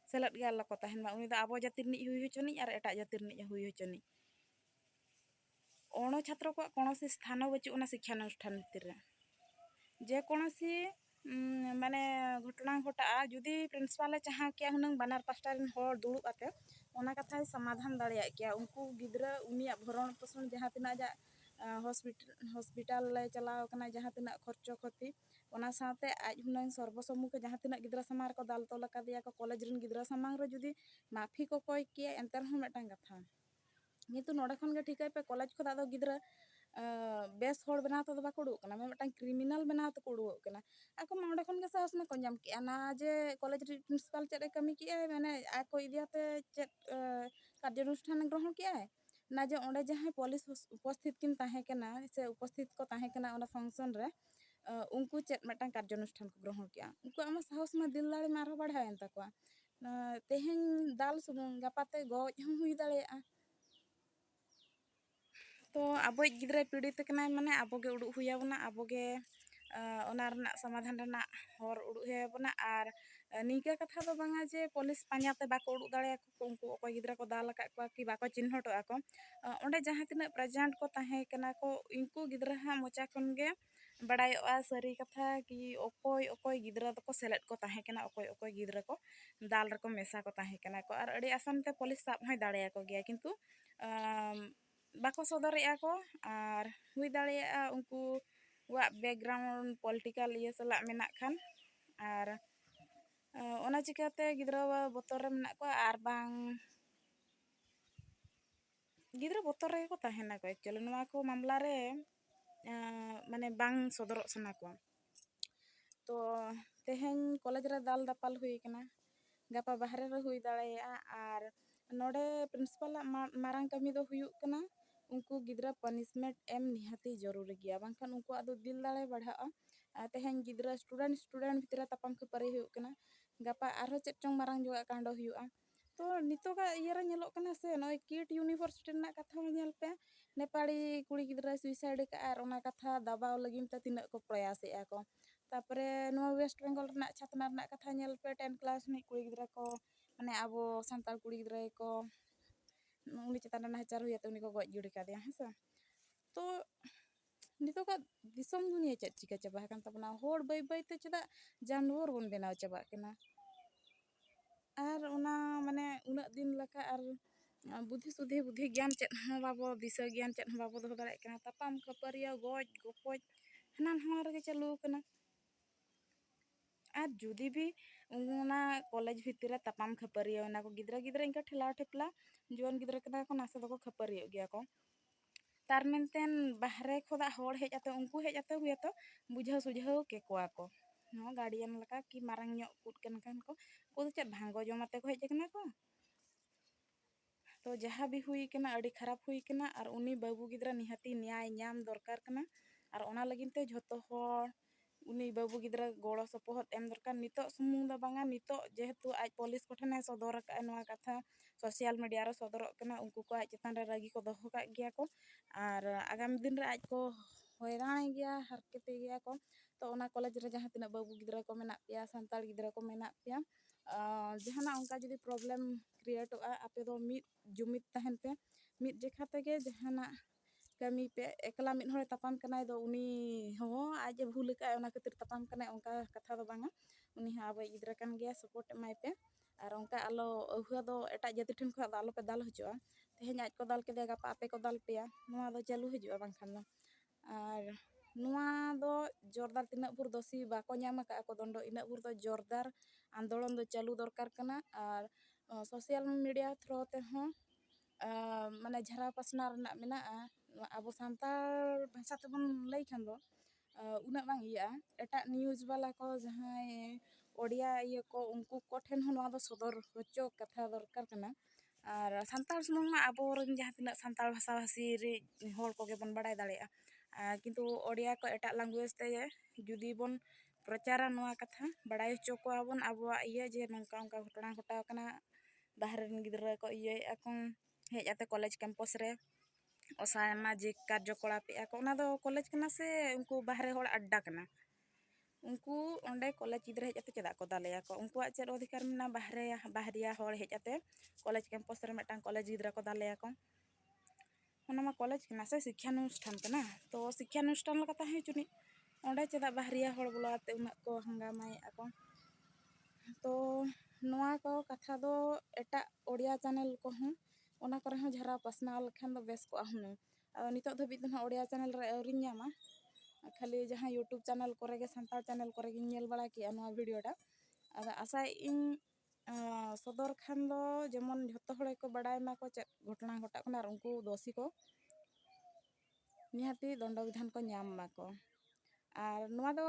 ᱥᱮᱞᱮᱫ ᱜᱮ ᱟᱞᱚ ᱠᱚ ᱛᱟᱦᱮᱱ ᱢᱟ ᱩᱱᱤ ᱫᱚ ᱟᱵᱚ ᱡᱟᱹᱛᱤ ᱨᱤᱱᱤᱡ ᱦᱩᱭ ᱦᱚᱪᱚᱱᱤᱡ ᱟᱨ ᱮᱴᱟᱜ ᱡᱟᱹᱛᱤ ᱨᱤᱱᱤᱡ ᱮ ᱦᱩᱭ ᱦᱚᱪᱚᱱᱤᱡ ᱚᱬᱚ ᱪᱷᱟᱛᱨᱚ ᱠᱚᱣᱟᱜ ᱠᱚᱱᱚᱥᱤ ᱥᱛᱷᱟᱱ ᱦᱚᱸ ᱵᱟᱹᱪᱩᱜ ᱟᱱᱟ ᱥᱤᱠᱠᱷᱟ ᱚᱱᱩᱥᱴᱷᱟᱱ ᱵᱷᱤᱛᱤᱨ ᱨᱮ ᱡᱮ ᱠᱚᱱᱚᱥᱤ ᱢᱟᱱᱮ ᱜᱷᱚᱴᱚᱱᱟ ᱜᱷᱚᱴᱟᱜᱼᱟ ᱡᱩᱫᱤ ᱯᱨᱤᱱᱥᱤᱯᱟᱞ ᱮ ᱪᱟᱦᱟᱣ ᱠᱮᱭᱟ ᱦᱩᱱᱟᱹᱝ ᱵᱟᱱᱟᱨ ᱯᱟᱥᱴᱟ ᱨᱮᱱ ᱦᱚᱲ ᱫᱩᱲᱩᱵ ᱠᱟᱛᱮ ᱚᱱᱟ ᱠᱟᱛᱷᱟᱭ ᱥᱚᱢᱟᱫᱷᱟᱱ ᱫᱟᱲᱮᱭᱟᱜ ᱠᱮᱭᱟ ᱩᱱᱠᱩ ᱜᱤᱫᱽᱨᱟᱹ ᱩᱱᱤᱭᱟᱜ ᱵᱷᱚᱨᱚᱱ ᱯᱳᱥᱚᱱ ᱡᱟᱦᱟᱸ ᱛᱤᱱᱟᱹᱜ ᱟᱡᱟᱜ ᱦᱚᱥᱯᱤᱴᱟᱞ ᱮ ᱪᱟᱞᱟᱣ ᱠᱟᱱᱟ ᱡᱟᱦᱟᱸ ᱛᱤᱱᱟᱹᱜ ᱠᱷᱚᱨᱪᱚ ᱠᱷᱚᱛᱤ ᱚᱱᱟ ᱥᱟᱶᱛᱮ ᱟᱡ ᱦᱩᱱᱟᱹᱝ ᱥᱚᱨᱵᱚ ᱥᱚᱢᱢᱩᱠᱷᱮ ᱡᱟᱦᱟᱸ ᱛᱤᱱᱟᱹᱜ ᱜᱤᱫᱽᱨᱟᱹ ᱥᱟᱢᱟᱝ ᱨᱮᱠᱚ ᱫᱟᱞ ᱛᱚᱞ ᱟᱠᱟᱫᱮᱭᱟ ᱠᱚ ᱠᱚᱞᱮᱡᱽ ᱨᱮᱱ ᱜᱤᱫᱽᱨᱟᱹ ᱥᱟᱢᱟᱝ ᱨᱮ ᱡᱩᱫᱤ ᱢᱟᱹᱯᱷᱤ ᱠᱚ ᱠᱚᱭ ᱠᱮᱭᱟ ᱮᱱᱛᱮ ᱨᱮᱦᱚᱸ ᱢᱤᱫᱴᱟᱝ ᱠᱟᱛᱷᱟ ᱡᱮᱦᱮᱛᱩ ᱱᱚᱰᱮ ᱠᱷᱚᱱ ᱜᱮ ᱴᱷᱤᱠᱟᱹᱭ ᱯᱮ ᱠᱚᱞᱮᱡᱽ ᱠᱷᱚᱱᱟᱜ ᱫᱚ ᱜᱤᱫᱽᱨᱟᱹ ᱵᱮᱥ ᱦᱚᱲ ᱵᱮᱱᱟᱣ ᱛᱮᱫᱚ ᱵᱟᱠᱚ ᱩᱰᱩᱠᱚᱜ ᱠᱟᱱᱟ ᱢᱤᱢᱤᱫᱴᱟᱝ ᱠᱨᱤᱢᱤᱱᱟᱞ ᱵᱮᱱᱟᱣ ᱛᱮᱠᱚ ᱩᱰᱩᱠᱚᱜ ᱠᱟᱱᱟ ᱟᱠᱚ ᱢᱟ ᱚᱸᱰᱮ ᱠᱷᱚᱱ ᱜᱮ ᱥᱟᱦᱚᱥ ᱢᱟᱠᱚ ᱧᱟᱢ ᱠᱮᱫᱼᱟ ᱱᱟ ᱡᱮ ᱠᱚᱞᱮᱡᱽ ᱨᱤᱱᱤᱡ ᱯᱨᱤᱱᱥᱤᱯᱟᱞ ᱪᱮᱫ ᱮ ᱠᱟᱹᱢᱤ ᱠᱮᱫᱼᱟᱭ ᱢᱟᱱᱮ ᱟᱠᱚ ᱤᱫᱤ ᱠᱟᱛᱮ ᱪᱮᱫ ᱠᱟᱨᱡᱚ ᱚᱱᱩᱥᱴᱷᱟᱱ ᱜᱨᱚᱦᱚᱱ ᱠᱮᱫᱼᱟᱭ ᱱᱟ ᱡᱮ ᱚᱸᱰᱮ ᱡᱟᱦᱟᱸᱭ ᱯᱚᱞᱤᱥ ᱩᱯᱚᱥᱛᱷᱤᱛ ᱠᱤᱱ ᱛᱟᱦᱮᱸ ᱠᱟᱱᱟ ᱥᱮ ᱩᱯᱚᱥᱛᱷᱤᱛ ᱠᱚ ᱛᱟᱦᱮᱸ ᱠᱟᱱᱟ ᱚᱱᱟ ᱯᱷᱟᱝᱥᱚᱱ ᱨᱮ ᱩᱱᱠᱩ ᱪᱮᱫ ᱢᱤᱫᱴᱟᱝ ᱠᱟᱨᱡᱚ ᱚᱱᱩᱥᱴᱷᱟᱱ ᱠᱚ ᱜᱨᱚᱦᱚᱱ ᱠᱮᱫᱼᱟ ᱩᱱᱠᱩᱣᱟᱜ ᱢᱟ ᱥᱟᱦᱚᱥ ᱢᱟ ᱫᱤᱞ ᱫᱟᱲᱮ ᱢᱟ ᱟᱨᱦᱚᱸ ᱵᱟᱲᱦᱟᱣᱮᱱ ᱛᱟᱠᱚᱣᱟ ᱛᱮᱦᱮᱧ ᱫᱟᱞ ᱥᱩᱢᱩᱝ ᱜᱟᱯᱟ ᱛᱮ ᱜᱚᱡ ᱦᱚᱸ ᱦᱩᱭ ᱫᱟᱲᱮᱭᱟᱜᱼᱟ ᱛᱚ ᱟᱵᱚᱭᱤᱡ ᱜᱤᱫᱽᱨᱟᱹᱭ ᱯᱤᱲᱤᱛ ᱠᱟᱱᱟᱭ ᱢᱟᱱᱮ ᱟᱵᱚ ᱜᱮ ᱩᱰᱩᱠ ᱦᱩᱭ ᱟᱵᱚᱱᱟ ᱟᱵᱚ ᱜᱮ ᱚᱱᱟ ᱨᱮᱱᱟᱜ ᱥᱚᱢᱟᱫᱷᱟᱱ ᱨᱮᱱᱟᱜ ᱦᱚᱨ ᱩᱰᱩᱠ ᱦᱩᱭ ᱟᱵᱚᱱᱟ ᱟᱨ ᱱᱤᱝᱠᱟᱹ ᱠᱟᱛᱷᱟ ᱫᱚ ᱵᱟᱝᱟ ᱡᱮ ᱯᱩᱞᱤᱥ ᱯᱟᱸᱡᱟ ᱛᱮ ᱵᱟᱠᱚ ᱩᱰᱩᱠ ᱫᱟᱲᱮ ᱟᱠᱚ ᱩᱱᱠᱩ ᱚᱠᱚᱭ ᱜᱤᱫᱽᱨᱟᱹ ᱠᱚ ᱫᱟᱞ ᱟᱠᱟᱫ ᱠᱚᱣᱟ ᱠᱤ ᱵᱟᱠᱚ ᱪᱤᱱᱦᱟᱹᱴᱚᱜᱼᱟ ᱠᱚ ᱚᱸᱰᱮ ᱡᱟᱦᱟᱸ ᱛᱤᱱᱟᱹᱜ ᱯᱨᱮᱡᱮᱱᱴ ᱠᱚ ᱛᱟᱦᱮᱸ ᱠᱟᱱᱟ ᱠᱚ ᱩᱱᱠᱩ ᱜᱤᱫᱽᱨᱟᱹ ᱦᱟᱸᱜ ᱢᱚᱪᱟ ᱠᱷᱚᱱ ᱜᱮ ᱵᱟᱲᱟᱭᱚᱜᱼᱟ ᱥᱟᱹᱨᱤ ᱠᱟᱛᱷᱟ ᱠᱤ ᱚᱠᱚᱭ ᱚᱠᱚᱭ ᱜᱤᱫᱽᱨᱟᱹ ᱫᱚᱠᱚ ᱥᱮᱞᱮᱫ ᱠᱚ ᱛᱟᱦᱮᱸ ᱠᱟᱱᱟ ᱚᱠᱚᱭ ᱚᱠᱚᱭ ᱜᱤᱫᱽᱨᱟᱹ ᱠᱚ ᱫᱟᱞ ᱨᱮᱠᱚ ᱢᱮᱥᱟ ᱠᱚ ᱛᱟᱦᱮᱸ ᱠᱟᱱᱟ ᱠᱚ ᱟᱨ ᱟᱹᱰᱤ ᱟᱥᱟᱱ ᱛᱮ ᱯᱩᱞᱤᱥ ᱥᱟᱵ ᱦᱚᱸᱭ ᱫᱟᱲᱮᱭᱟᱠᱚ ᱜᱮᱭᱟ ᱠᱤᱱᱛᱩ ᱵᱟᱠᱚ ᱥᱚᱫᱚᱨᱮᱜᱼᱟ ᱠᱚ ᱟᱨ ᱦᱩᱭ ᱫᱟᱲᱮᱭᱟᱜᱼᱟ ᱩᱱᱠᱩ ᱣᱟᱜ ᱵᱮᱠᱜᱨᱟᱣᱩᱱᱰ ᱯᱚᱞᱤᱴᱤᱠᱟᱞ ᱤᱭᱟᱹ ᱥᱟᱞᱟᱜ ᱢᱮᱱᱟᱜ ᱠᱷᱟᱱ ᱟᱨ ᱚᱱᱟ ᱪᱤᱠᱟᱹᱛᱮ ᱜᱤᱫᱽᱨᱟᱹ ᱵᱚᱛᱚᱨ ᱨᱮ ᱢᱮᱱᱟᱜ ᱠᱚᱣᱟ ᱟᱨ ᱵᱟᱝ ᱜᱤᱫᱽᱨᱟᱹ ᱵᱚᱛᱚᱨ ᱨᱮᱜᱮ ᱠᱚ ᱛᱟᱦᱮᱱᱟᱠᱚ ᱮᱠᱪᱩᱭᱮᱞᱤ ᱱᱚᱣᱟ ᱠᱚ ᱢᱟᱢᱞᱟ ᱨᱮ ᱢᱟᱱᱮ ᱵᱟᱝ ᱥᱚᱫᱚᱨᱚᱜ ᱥᱟᱱᱟ ᱠᱚᱣᱟ ᱛᱚ ᱛᱮᱦᱮᱧ ᱠᱚᱞᱮᱡᱽ ᱨᱮ ᱫᱟᱞ ᱫᱟᱯᱟᱞ ᱦᱩᱭ ᱠᱟᱱᱟ ᱜᱟᱯᱟ ᱵᱟᱦᱨᱮ ᱨᱮ ᱦᱩᱭ ᱫᱟᱲᱮᱭᱟᱜᱼᱟ ᱟᱨ ᱱᱚᱰᱮ ᱯᱨᱤᱱᱥᱤᱯᱟᱞᱟᱜ ᱢᱟᱨᱟᱝ ᱠᱟᱹᱢᱤ ᱫᱚ ᱦᱩᱭᱩᱜ ᱠᱟᱱᱟ ᱩᱱᱠᱩ ᱜᱤᱫᱽᱨᱟᱹ ᱯᱟᱱᱤᱥᱢᱮᱱᱴ ᱮᱢ ᱱᱤᱦᱟᱹᱛᱤ ᱡᱚᱨᱩᱨᱤ ᱜᱮᱭᱟ ᱵᱟᱝᱠᱷᱟᱱ ᱩᱱᱠᱩᱣᱟᱜ ᱫᱚ ᱫᱤᱞ ᱫᱟᱲᱮ ᱵᱟᱲᱦᱟᱜᱼᱟ ᱛᱮᱦᱮᱧ ᱜᱤᱫᱽᱨᱟᱹ ᱥᱴᱩᱰᱮᱱᱴ ᱥᱴᱩᱰᱮᱱᱴ ᱵᱷᱤᱛᱨᱤ ᱨᱮ ᱛᱟᱯᱟᱢ ᱠᱷᱟᱹᱯᱟᱹᱨᱤ ᱦᱩᱭᱩᱜ ᱠᱟᱱᱟ ᱜᱟᱯᱟ ᱟᱨᱦᱚᱸ ᱪᱮᱫ ᱪᱚᱝ ᱢᱟᱨᱟᱝ ᱧᱚᱜᱟᱜ ᱠᱟᱱᱰᱚ ᱦᱩᱭᱩᱜᱼᱟ ᱛᱚ ᱱᱤᱛᱚᱜᱟᱜ ᱤᱭᱟᱹᱨᱮ ᱧᱮᱞᱚᱜ ᱠᱟᱱᱟ ᱥᱮ ᱱᱚᱜᱼᱚᱭ ᱠᱤᱴ ᱤᱭᱩᱱᱤᱵᱷᱟᱨᱥᱤᱴᱤ ᱨᱮᱱᱟᱜ ᱠᱟᱛᱷᱟ ᱦᱚᱸ ᱧᱮᱞ ᱯᱮ ᱱᱮᱯᱟᱲᱤ ᱠᱩᱲᱤ ᱜᱤᱫᱽᱨᱟᱹᱭ ᱥᱩᱭᱥᱟᱭᱤᱰ ᱟᱠᱟᱫᱼᱟ ᱟᱨ ᱚᱱᱟ ᱠᱟᱛᱷᱟ ᱫᱟᱵᱟᱣ ᱞᱟᱹᱜᱤᱫ ᱛᱮ ᱛᱤᱱᱟᱹᱜ ᱠᱚ ᱯᱨᱚᱭᱟᱥᱮᱜᱼᱟ ᱠᱚ ᱛᱟᱨᱯᱚᱨᱮ ᱱᱚᱣᱟ ᱚᱭᱮᱥᱴ ᱵᱮᱝᱜᱚᱞ ᱨᱮᱱᱟᱜ ᱪᱷᱟᱛᱱᱟ ᱨᱮᱱᱟᱜ ᱠᱟᱛᱷᱟ ᱧᱮᱞ ᱯᱮ ᱴᱮᱱ ᱠᱞᱟᱥ ᱨᱤᱱᱤᱡ ᱠᱩᱲᱤ ᱜᱤᱫᱽᱨᱟᱹ ᱠᱚ ᱢᱟᱱᱮ ᱟᱵᱚ ᱥᱟᱱᱛᱟᱲ ᱠᱩᱲᱤ ᱜᱤᱫᱽᱨᱟᱹ ᱜᱮᱠᱚ ᱩᱱᱤ ᱪᱮᱛᱟᱱ ᱨᱮ ᱱᱟᱦᱟᱪᱟᱨ ᱦᱩᱭ ᱠᱟᱛᱮᱫ ᱩᱱᱤ ᱠᱚ ᱜᱚᱡ ᱜᱤᱰᱤ ᱠᱟᱫᱮᱭᱟ ᱦᱮᱸ ᱥᱮ ᱛᱚ ᱱᱤᱛᱚᱜᱟᱜ ᱫᱤᱥᱚᱢ ᱫᱩᱱᱤᱭᱟᱹ ᱪᱮᱫ ᱪᱤᱠᱟᱹ ᱪᱟᱵᱟ ᱟᱠᱟᱱ ᱛᱟᱵᱚᱱᱟ ᱦᱚᱲ ᱵᱟᱹᱭ ᱵᱟᱹᱭ ᱛᱮ ᱪᱮᱫᱟᱜ ᱡᱟᱱᱣᱟᱨ ᱵᱚᱱ ᱵᱮᱱᱟᱣ ᱪᱟᱵᱟᱜ ᱠᱟᱱᱟ ᱟᱨ ᱚᱱᱟ ᱢᱟᱱᱮ ᱩᱱᱟᱹᱜ ᱫᱤᱱ ᱞᱮᱠᱟ ᱟᱨ ᱵᱩᱫᱷᱤ ᱥᱩᱫᱷᱤ ᱵᱩᱫᱷᱤ ᱜᱮᱭᱟᱱ ᱪᱮᱫ ᱦᱚᱸ ᱵᱟᱵᱚ ᱫᱤᱥᱟᱹ ᱜᱮᱭᱟᱱ ᱪᱮᱫ ᱦᱚᱸ ᱵᱟᱵᱚ ᱫᱚᱦᱚ ᱫᱟᱲᱮᱭᱟᱜ ᱠᱟᱱᱟ ᱛᱟᱯᱟᱢ ᱠᱷᱟᱹᱯᱟᱹᱨᱤ ᱜᱚᱡ ᱜᱚᱯᱚᱡ ᱦᱟᱱᱟ ᱱᱚᱣᱟ ᱨᱮᱜᱮ ᱪᱟᱹᱞᱩ ᱟᱠᱟᱱᱟ ᱟᱨ ᱡᱩᱫᱤ ᱵᱤ ᱚᱱᱟ ᱠᱚᱞᱮᱡᱽ ᱵᱷᱤᱛᱤᱨ ᱨᱮ ᱛᱟᱯᱟᱢ ᱠᱷᱟᱹᱯᱟᱹᱨᱤᱭᱟᱹᱣ ᱮᱱᱟ ᱠᱚ ᱜᱤᱫᱽᱨᱟᱹ ᱜᱤᱫᱽᱨᱟᱹ ᱤᱱᱠᱟᱹ ᱴᱷᱮᱞᱟᱣ ᱴᱷᱮᱯᱞᱟᱣ ᱡᱩᱣᱟᱹᱱ ᱜᱤᱫᱽᱨᱟᱹ ᱠᱟᱱᱟ ᱠᱚ ᱱᱟᱥᱮ ᱫᱚᱠᱚ ᱠᱷᱟᱹᱯᱟᱹᱨᱤᱭᱟᱹᱜ ᱜᱮᱭᱟ ᱠᱚ ᱛᱟᱨ ᱢᱮᱱᱛᱮ ᱵᱟᱦᱨᱮ ᱠᱷᱚᱱᱟᱜ ᱦᱚᱲ ᱦᱮᱡ ᱠᱟᱛᱮ ᱩᱱᱠᱩ ᱦᱮᱡ ᱠᱟᱛᱮ ᱦᱚᱭᱛᱚ ᱵᱩᱡᱷᱟᱹᱣ ᱥᱩᱡᱷᱟᱹᱣ ᱠᱮᱠᱚᱣᱟ ᱠᱚ ᱱᱚᱣᱟ ᱜᱟᱨᱰᱤᱭᱟᱱ ᱞᱮᱠᱟ ᱠᱤ ᱢᱟᱨᱟᱝ ᱧᱚᱜ ᱠᱩᱫ ᱠᱟᱱ ᱠᱷᱟᱱ ᱠᱚ ᱩᱱᱠᱩ ᱫᱚ ᱪᱮᱫ ᱵᱷᱟᱝᱜᱚ ᱡᱚᱢ ᱠᱟᱛᱮ ᱠᱚ ᱦᱮᱡ ᱠᱟᱱᱟ ᱠᱚ ᱛᱚ ᱡᱟᱦᱟᱸ ᱵᱤ ᱦᱩᱭ ᱠᱟᱱᱟ ᱟᱹᱰᱤ ᱠᱷᱟᱨᱟᱯ ᱦᱩᱭ ᱠᱟᱱᱟ ᱟᱨ ᱩᱱᱤ ᱵᱟᱹᱵᱩ ᱜᱤᱫᱽᱨᱟᱹ ᱱᱤᱦᱟᱹᱛᱤ ᱱᱮᱭᱟᱭ ᱧᱟᱢ ᱫᱚᱨᱠᱟᱨ ᱠᱟᱱᱟ ᱟᱨ ᱚᱱᱟ ᱞᱟᱹᱜᱤᱫ ᱛᱮ ᱡᱷᱚᱛᱚ ᱦᱚᱲ ᱩᱱᱤ ᱵᱟᱹᱵᱩ ᱜᱤᱫᱽᱨᱟᱹ ᱜᱚᱲᱚ ᱥᱚᱯᱚᱦᱚᱫ ᱮᱢ ᱫᱚᱨᱠᱟᱨ ᱱᱤᱛᱚᱜ ᱥᱩᱢᱩᱝ ᱫᱚ ᱵᱟᱝᱟ ᱱᱤᱛᱚᱜ ᱡᱮᱦᱮᱛᱩ ᱟᱡ ᱯᱚᱞᱤᱥ ᱠᱚᱴᱷᱮᱱᱮ ᱥᱚᱫᱚᱨ ᱟᱠᱟᱫᱼᱟ ᱱᱚᱣᱟ ᱠᱟᱛᱷᱟ ᱥᱳᱥᱟᱞ ᱢᱤᱰᱤᱭᱟ ᱨᱮ ᱥᱚᱫᱚᱨᱚᱜ ᱠᱟᱱᱟ ᱩᱱᱠᱩ ᱠᱚ ᱟᱡ ᱪᱮᱛᱟᱱ ᱨᱮ ᱨᱟᱹᱜᱤ ᱠᱚ ᱫᱚᱦᱚ ᱠᱟᱜ ᱜᱮᱭᱟ ᱠᱚ ᱟᱨ ᱟᱜᱟᱢᱤ ᱫᱤᱱ ᱨᱮ ᱟᱡ ᱠᱚ ᱦᱚᱭᱨᱟᱱᱮ ᱜᱮᱭᱟ ᱦᱟᱨᱠᱮᱛᱮ ᱜᱮᱭᱟ ᱠᱚ ᱛᱚ ᱚᱱᱟ ᱠᱚᱞᱮᱡᱽ ᱨᱮ ᱡᱟᱦᱟᱸ ᱛᱤᱱᱟᱹᱜ ᱵᱟᱹᱵᱩ ᱜᱤᱫᱽᱨᱟᱹ ᱠᱚ ᱢᱮᱱᱟᱜ ᱯᱮᱭᱟ ᱥᱟᱱᱛᱟᱲ ᱜᱤᱫᱽᱨᱟᱹ ᱠᱚ ᱢᱮᱱᱟᱜ ᱯᱮᱭᱟ ᱡᱟᱦᱟᱱᱟᱜ ᱚᱱᱠᱟ ᱡᱩᱫᱤ ᱯᱨᱚᱵᱞᱮᱢ ᱠᱨᱤᱭᱮᱴᱚᱜᱼᱟ ᱟᱯᱮ ᱫᱚ ᱢᱤᱫ ᱡᱩᱢᱤᱫ ᱛᱟᱦᱮᱱ ᱯᱮ ᱢᱤᱫ ᱡᱚᱠᱷᱟ ᱛᱮᱜᱮ ᱡᱟᱦᱟᱱᱟᱜ ᱠᱟᱹᱢᱤ ᱯᱮ ᱮᱠᱞᱟ ᱢᱤᱫ ᱦᱚᱲᱮ ᱛᱟᱯᱟᱢ ᱠᱟᱱᱟᱭ ᱫᱚ ᱩᱱᱤ ᱦᱚᱸ ᱟᱡ ᱮ ᱵᱷᱩᱞ ᱟᱠᱟᱫ ᱚᱱᱟ ᱠᱷᱟᱹᱛᱤᱨ ᱛᱟᱯᱟᱢ ᱠᱟᱱᱟᱭ ᱚᱱᱠᱟ ᱠᱟᱛᱷᱟ ᱫᱚ ᱵᱟᱝᱟ ᱩᱱᱤ ᱦᱚᱸ ᱟᱵᱚᱭᱤᱡ ᱜᱤᱫᱽᱨᱟᱹ ᱠᱟᱱ ᱜᱮᱭᱟᱭ ᱥᱟᱯᱳᱨᱴ ᱮᱢᱟᱭ ᱯᱮ ᱟᱨ ᱚᱱᱠᱟ ᱟᱞᱚ ᱟᱹᱣᱦᱟᱹ ᱫᱚ ᱮᱴᱟᱜ ᱡᱟᱹᱛᱤ ᱴᱷᱮᱱ ᱠᱷᱚᱱᱟᱜ ᱫᱚ ᱟᱞᱚᱯᱮ ᱫᱟᱞ ᱦᱚᱪᱚᱜᱼᱟ ᱛᱮᱦᱮᱧ ᱟᱡ ᱠᱚ ᱫᱟᱞ ᱠᱮᱫᱮᱭᱟ ᱜᱟᱯᱟ ᱟᱯᱮ ᱠᱚ ᱫᱟᱞ ᱯᱮᱭᱟ ᱱᱚᱣᱟ ᱫᱚ ᱪᱟᱹᱞᱩ ᱦᱤᱡᱩᱜᱼᱟ ᱵᱟᱝᱠᱷᱟᱱ ᱫᱚ ᱟᱨ ᱱᱚᱣᱟ ᱫᱚ ᱡᱳᱨᱫᱟᱨ ᱛᱤᱱᱟᱹᱜ ᱵᱷᱳᱨ ᱫᱚᱥᱤ ᱵᱟᱠᱚ ᱧᱟᱢ ᱟᱠᱟᱫ ᱠᱚ ᱫᱚᱱᱰᱚ ᱤᱱᱟᱹᱜ ᱵᱷᱳᱨ ᱫᱚ ᱡᱳᱨᱫᱟᱨ ᱟᱱᱫᱳᱞᱚᱱ ᱫᱚ ᱪᱟᱹᱞᱩ ᱫᱚᱨᱠᱟᱨ ᱠᱟᱱᱟ ᱟᱨ ᱥᱳᱥᱟᱞ ᱢᱤᱰᱤᱭᱟ ᱛᱷᱨᱩ ᱛᱮᱦᱚᱸ ᱢᱟᱱᱮ ᱡᱷᱟᱨᱟᱣ ᱯᱟᱥᱱᱟᱣ ᱨᱮᱱᱟᱜ ᱢᱮᱱᱟᱜᱼᱟ ᱱᱚᱣᱟ ᱟᱵᱚ ᱥᱟᱱᱛᱟᱲ ᱵᱷᱟᱥᱟ ᱛᱮᱵᱚᱱ ᱞᱟᱹᱭ ᱠᱷᱟᱱ ᱫᱚ ᱩᱱᱟᱹᱜ ᱵᱟᱝ ᱤᱭᱟᱹᱜᱼᱟ ᱮᱴᱟᱜ ᱱᱤᱭᱩᱡᱽ ᱵᱟᱞᱟ ᱠᱚ ᱡᱟᱦᱟᱸᱭ ᱳᱰᱤᱭᱟ ᱤᱭᱟᱹ ᱠᱚ ᱩᱱᱠᱩ ᱠᱚᱴᱷᱮᱱ ᱦᱚᱸ ᱱᱚᱣᱟ ᱫᱚ ᱥᱚᱫᱚᱨ ᱦᱚᱪᱚ ᱠᱟᱛᱷᱟ ᱫᱚᱨᱠᱟᱨ ᱠᱟᱱᱟ ᱟᱨ ᱥᱟᱱᱛᱟᱲ ᱥᱩᱢᱩᱝ ᱢᱟ ᱟᱵᱚ ᱨᱮᱱ ᱡᱟᱦᱟᱸ ᱛᱤᱱᱟᱹᱜ ᱥᱟᱱᱛᱟᱲ ᱵᱷᱟᱥᱟ ᱵᱷᱟᱹᱥᱤ ᱨᱤᱱ ᱦᱚᱲ ᱠᱚᱜᱮ ᱵᱚᱱ ᱵᱟᱲᱟᱭ ᱫᱟᱲᱮᱭᱟᱜᱼᱟ ᱟᱨ ᱠᱤᱱᱛᱩ ᱳᱰᱤᱭᱟ ᱠᱚ ᱮᱴᱟᱜ ᱞᱮᱝᱜᱩᱭᱮᱡᱽ ᱛᱮ ᱡᱩᱫᱤ ᱵᱚᱱ ᱯᱨᱚᱪᱟᱨᱟ ᱱᱚᱣᱟ ᱠᱟᱛᱷᱟ ᱵᱟᱲᱟᱭ ᱦᱚᱪᱚ ᱠᱚᱣᱟ ᱵᱚᱱ ᱟᱵᱚᱣᱟᱜ ᱤᱭᱟᱹ ᱡᱮ ᱱᱚᱝᱠᱟ ᱱᱚᱝᱠᱟ ᱜᱷᱚᱴᱚᱱᱟ ᱜᱷᱚᱴᱟᱣ ᱠᱟᱱᱟ ᱵᱟᱦᱨᱮ ᱨᱮᱱ ᱜᱤᱫᱽᱨᱟᱹ ᱠᱚ ᱤᱭᱟᱹᱭᱮᱫ ᱟᱠᱚ ᱦᱮᱡ ᱠᱟᱛᱮ ᱠᱚᱞᱮᱡᱽ ᱠᱮᱢᱯᱟᱥ ᱨᱮ ᱚᱥᱟᱢᱟᱡᱤᱠ ᱠᱟᱨᱡᱚ ᱠᱚᱞᱟᱯ ᱮᱫ ᱟᱠᱚ ᱚᱱᱟ ᱫᱚ ᱠᱚᱞᱮᱡᱽ ᱠᱟᱱᱟ ᱥᱮ ᱩᱱᱠᱩ ᱵᱟᱦᱨᱮ ᱦᱚᱲᱟᱜ ᱟᱰᱰᱟ ᱠᱟᱱᱟ ᱩᱱᱠᱩ ᱚᱸᱰᱮ ᱠᱚᱞᱮᱡᱽ ᱜᱤᱫᱽᱨᱟᱹ ᱦᱮᱡ ᱠᱟᱛᱮ ᱪᱮᱫᱟᱜ ᱠᱚ ᱫᱟᱞᱮᱭᱟ ᱠᱚ ᱩᱱᱠᱩᱣᱟᱜ ᱪᱮᱫ ᱚᱫᱷᱤᱠᱟᱨ ᱢᱮᱱᱟᱜᱼᱟ ᱵᱟᱦᱨᱮ ᱵᱟᱦᱨᱮᱭᱟ ᱦᱚᱲ ᱦᱮᱡ ᱠᱟᱛᱮ ᱠᱚᱞᱮᱡᱽ ᱠᱮᱢᱯᱟᱥ ᱨᱮ ᱢᱤᱫᱴᱟᱝ ᱠᱚᱞᱮᱡᱽ ᱜᱤᱫᱽᱨᱟᱹ ᱠᱚ ᱫᱟᱞᱮᱭᱟ ᱠᱚ ᱚᱱᱟ ᱢᱟ ᱠᱚᱞᱮᱡᱽ ᱠᱟᱱᱟ ᱥᱮ ᱥᱤᱠᱠᱷᱟ ᱚᱱᱩᱥᱴᱷᱟᱱ ᱠᱟᱱᱟ ᱛᱚ ᱥᱤᱠᱠᱷᱟ ᱚᱱᱩᱥᱴᱷᱟᱱ ᱞᱮᱠᱟ ᱛᱟᱦᱮᱸ ᱦᱚᱪᱚᱱᱤᱡ ᱚᱸᱰᱮ ᱪᱮᱫᱟᱜ ᱵᱟᱦᱨᱮᱭᱟ ᱦᱚᱲ ᱵᱚᱞᱚ ᱠᱟᱛᱮ ᱩᱱᱟᱹᱜ ᱠᱚ ᱦᱟᱝᱜᱟᱢᱟᱭᱮᱜᱼᱟ ᱠᱚ ᱛᱚ ᱱᱚᱣᱟ ᱠᱚ ᱠᱟᱛᱷᱟ ᱫᱚ ᱮᱴᱟᱜ ᱳᱰᱤᱭᱟ ᱪᱮᱱᱮᱞ ᱠᱚᱦᱚᱸ ᱚᱱᱟ ᱠᱚᱨᱮ ᱦᱚᱸ ᱡᱷᱟᱨᱟᱣ ᱯᱟᱥᱱᱟᱣ ᱞᱮᱠᱷᱟᱱ ᱫᱚ ᱵᱮᱥ ᱠᱚᱜᱼᱟ ᱦᱩᱱᱟᱹᱝ ᱟᱫᱚ ᱱᱤᱛᱳᱜ ᱫᱷᱟᱹᱵᱤᱡ ᱫᱚ ᱱᱟᱜ ᱳᱰᱤᱭᱟ ᱪᱮᱱᱮᱞ ᱨᱮ ᱟᱹᱣᱨᱤᱧ ᱧᱟᱢᱟ ᱠᱷᱟᱹᱞᱤ ᱡᱟᱦᱟᱸ ᱤᱭᱩᱴᱩᱵᱽ ᱪᱮᱱᱮᱞ ᱠᱚᱨᱮ ᱜᱮ ᱥᱟᱱᱛᱟᱲ ᱪᱮᱱᱮᱞ ᱠᱚᱨᱮ ᱜᱤᱧ ᱧᱮᱞ ᱵᱟᱲᱟ ᱠᱮᱜᱼᱟ ᱱᱚᱣᱟ ᱵᱷᱤᱰᱤᱭᱳ ᱴᱟᱜ ᱟᱫᱚ ᱟᱥᱟᱭᱮᱜ ᱤᱧ ᱥᱚᱫᱚᱨ ᱠᱷᱟᱱ ᱫᱚ ᱡᱮᱢᱚᱱ ᱡᱷᱚᱛᱚ ᱦᱚᱲ ᱜᱮᱠᱚ ᱵᱟᱲᱟᱭ ᱢᱟᱠᱚ ᱪᱮᱫ ᱜᱷᱚᱴᱚᱱᱟ ᱜᱷᱚᱴᱟᱜ ᱠᱟᱱᱟ ᱟᱨ ᱩᱱᱠᱩ ᱫᱳᱥᱤ ᱠᱚ ᱱᱤᱦᱟᱹᱛᱤ ᱫᱚᱱᱰᱚ ᱵᱤᱫᱷᱟᱱ ᱠᱚ ᱧᱟᱢ ᱢᱟᱠᱚ ᱟᱨ ᱱᱚᱣᱟ ᱫᱚ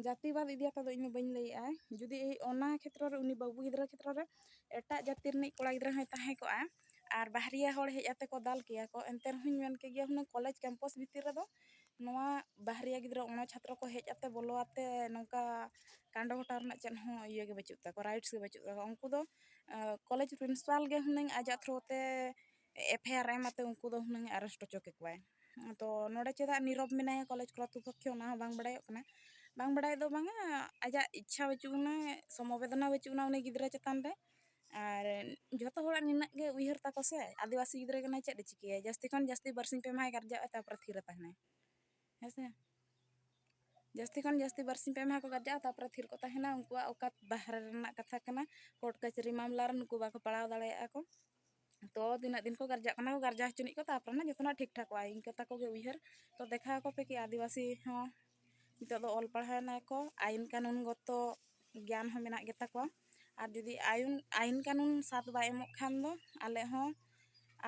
ᱡᱟᱹᱛᱤ ᱵᱟᱫ ᱤᱫᱤ ᱠᱟᱛᱮ ᱫᱚ ᱤᱧ ᱫᱚ ᱵᱟᱹᱧ ᱞᱟᱹᱭᱮᱜᱼᱟ ᱡᱩᱫᱤ ᱚᱱᱟ ᱠᱷᱮᱛᱨᱚ ᱨᱮ ᱩᱱᱤ ᱵᱟᱹᱵᱩ ᱜᱤᱫᱽᱨᱟᱹ ᱠᱷᱮᱛᱨᱚ ᱨᱮ ᱮᱴᱟᱜ ᱡᱟᱹᱛᱤ ᱨᱤᱱᱤᱡ ᱠᱚᱲᱟ ᱜᱤᱫᱽᱨᱟᱹ ᱦᱚᱸᱭ ᱛᱟᱦᱮᱸ ᱠᱚᱜᱼᱟ ᱟᱨ ᱵᱟᱦᱨᱤᱭᱟ ᱦᱚᱲ ᱦᱮᱡ ᱟᱛᱮ ᱠᱚ ᱫᱟᱞ ᱠᱮᱭᱟ ᱠᱚ ᱮᱱᱛᱮ ᱨᱮᱦᱚᱸᱧ ᱢᱮᱱ ᱠᱮ ᱜᱮᱭᱟ ᱦᱩᱱᱟᱹᱝ ᱠᱚᱞᱮᱡᱽ ᱠᱮᱢᱯᱟᱥ ᱵᱷᱤᱛᱤᱨ ᱨᱮᱫᱚ ᱱᱚᱣᱟ ᱵᱟᱦᱨᱮ ᱜᱤᱫᱽᱨᱟᱹ ᱚᱱᱟ ᱪᱷᱟᱛᱨᱚ ᱠᱚ ᱦᱮᱡ ᱟᱛᱮ ᱵᱚᱞᱚ ᱟᱛᱮ ᱱᱚᱝᱠᱟ ᱠᱟᱸᱰᱚ ᱜᱷᱚᱴᱟᱣ ᱨᱮᱱᱟᱜ ᱪᱮᱫ ᱦᱚᱸ ᱤᱭᱟᱹ ᱜᱮ ᱵᱟᱹᱪᱩᱜ ᱛᱟᱠᱚᱣᱟ ᱨᱟᱭᱤᱴᱥ ᱜᱮ ᱵᱟᱹᱪᱩᱜ ᱛᱟᱠᱚᱣᱟ ᱩᱱᱠᱩ ᱫᱚ ᱠᱚᱞᱮᱡᱽ ᱯᱨᱤᱱᱥᱤᱯᱟᱞ ᱜᱮ ᱦᱩᱱᱟᱹᱝ ᱟᱡᱟᱜ ᱛᱷᱨᱩ ᱛᱮ ᱮᱯᱷ ᱟᱭ ᱟᱨ ᱮᱢ ᱟᱛᱮ ᱩᱱᱠᱩ ᱫᱚ ᱦᱩᱱᱟᱹᱝ ᱟᱨᱮᱥᱴ ᱦᱚᱪᱚ ᱠᱮᱠᱚᱣᱟᱭ ᱛᱚ ᱱᱚᱰᱮ ᱪᱮᱫᱟᱜ ᱱᱤᱨᱚᱵ ᱢᱮᱱᱟᱭᱟ ᱠᱚᱞᱮᱡᱽ ᱠᱚᱨᱛᱨᱩ ᱯᱚᱠᱠᱷᱚ ᱚᱱᱟ ᱦᱚᱸ ᱵᱟᱝ ᱵᱟᱲᱟᱭᱚᱜ ᱠᱟᱱᱟ ᱵᱟᱝ ᱵᱟᱲᱟᱭ ᱫᱚ ᱵᱟᱝᱟ ᱟᱡᱟᱜ ᱤᱪᱪᱷᱟ ᱵᱟᱹᱪᱩᱜ ᱟᱱᱟ ᱥᱚᱢᱚᱵᱮᱫᱚᱱᱟ ᱵᱟᱹᱪᱩᱜ ᱟᱱᱟ ᱩᱱᱤ ᱜᱤᱫᱽᱨᱟᱹ ᱪᱮᱛᱟᱱ ᱨᱮ ᱟᱨ ᱡᱚᱛᱚ ᱦᱚᱲᱟᱜ ᱱᱤᱱᱟᱹᱜ ᱜᱮ ᱩᱭᱦᱟᱹᱨ ᱛᱟᱠᱚ ᱥᱮ ᱟᱹᱫᱤᱵᱟᱹᱥᱤ ᱜᱤᱫᱽᱨᱟᱹ ᱠᱟᱱᱟᱭ ᱪᱮᱫ ᱮ ᱪᱤᱠᱟᱹᱭᱟ ᱡᱟᱹᱥᱛᱤ ᱠᱷᱚᱱ ᱡᱟᱹᱥᱛᱤ ᱵᱟᱨ ᱥᱤᱧ ᱯᱮ ᱢᱟᱦᱟᱭ ᱜᱟᱨᱡᱟᱜᱼᱟ ᱛᱟᱨᱯᱚᱨᱮ ᱛᱷᱤᱨ ᱨᱮ ᱛᱟᱦᱮᱱᱟᱭ ᱦᱮᱸ ᱥᱮ ᱡᱟᱹᱥᱛᱤ ᱠᱷᱚᱱ ᱡᱟᱹᱥᱛᱤ ᱵᱟᱨ ᱥᱤᱧ ᱯᱮ ᱢᱟᱦᱟ ᱠᱚ ᱜᱟᱨᱡᱟᱜᱼᱟ ᱛᱟᱨᱯᱚᱨᱮ ᱛᱷᱤᱨ ᱠᱚ ᱛᱟᱦᱮᱱᱟ ᱩᱱᱠᱩᱣᱟᱜ ᱚᱠᱟᱛ ᱵᱟᱦᱨᱮ ᱨᱮᱱᱟᱜ ᱠᱟᱛᱷᱟ ᱠᱟᱱᱟ ᱠᱳᱨᱴ ᱠᱟᱹᱪᱷᱟᱹᱨᱤ ᱢᱟᱢᱞᱟ ᱨᱮ ᱱᱩᱠᱩ ᱵᱟᱠᱚ ᱯᱟᱲᱟᱣ ᱫᱟᱲᱮᱭᱟᱜᱼᱟ ᱠᱚ ᱛᱚ ᱛᱤᱱᱟᱹᱜ ᱫᱤᱱ ᱠᱚ ᱜᱟᱨᱡᱟᱜ ᱠᱟᱱᱟ ᱠᱚ ᱜᱟᱨᱡᱟ ᱦᱚᱪᱚᱱᱤᱡ ᱠᱚ ᱛᱟᱨᱯᱚᱨᱮ ᱱᱟᱜ ᱡᱚᱛᱚᱱᱟᱜ ᱴᱷᱤᱠ ᱴᱷᱟᱠᱚᱜᱼᱟ ᱤᱱᱠᱟᱹ ᱛᱟᱠᱚ ᱜᱮ ᱩᱭᱦᱟᱹᱨ ᱛᱚ ᱫᱮᱠᱷᱟᱣ ᱟᱠᱚ ᱯᱮ ᱠᱤ ᱟᱹᱫᱤᱵᱟᱹᱥᱤ ᱦᱚᱸ ᱱᱤᱛᱳᱜ ᱫᱚ ᱚᱞ ᱯᱟᱲᱦᱟᱣ ᱮᱱᱟ ᱠᱚ ᱟᱭᱤᱱ ᱠᱟᱹᱱᱩᱱ ᱜᱚᱛᱚ ᱜᱮᱭᱟᱱ ᱦᱚᱸ ᱢᱮᱱᱟᱜ ᱜᱮᱛᱟ ᱠᱚᱣᱟ ᱟᱨ ᱡᱩᱫᱤ ᱟᱭᱩᱱ ᱟᱭᱤᱱ ᱠᱟᱹᱱᱩᱱ ᱥᱟᱛ ᱵᱟᱭ ᱮᱢᱚᱜ ᱠᱷᱟᱱ ᱫᱚ ᱟᱞᱮ ᱦᱚᱸ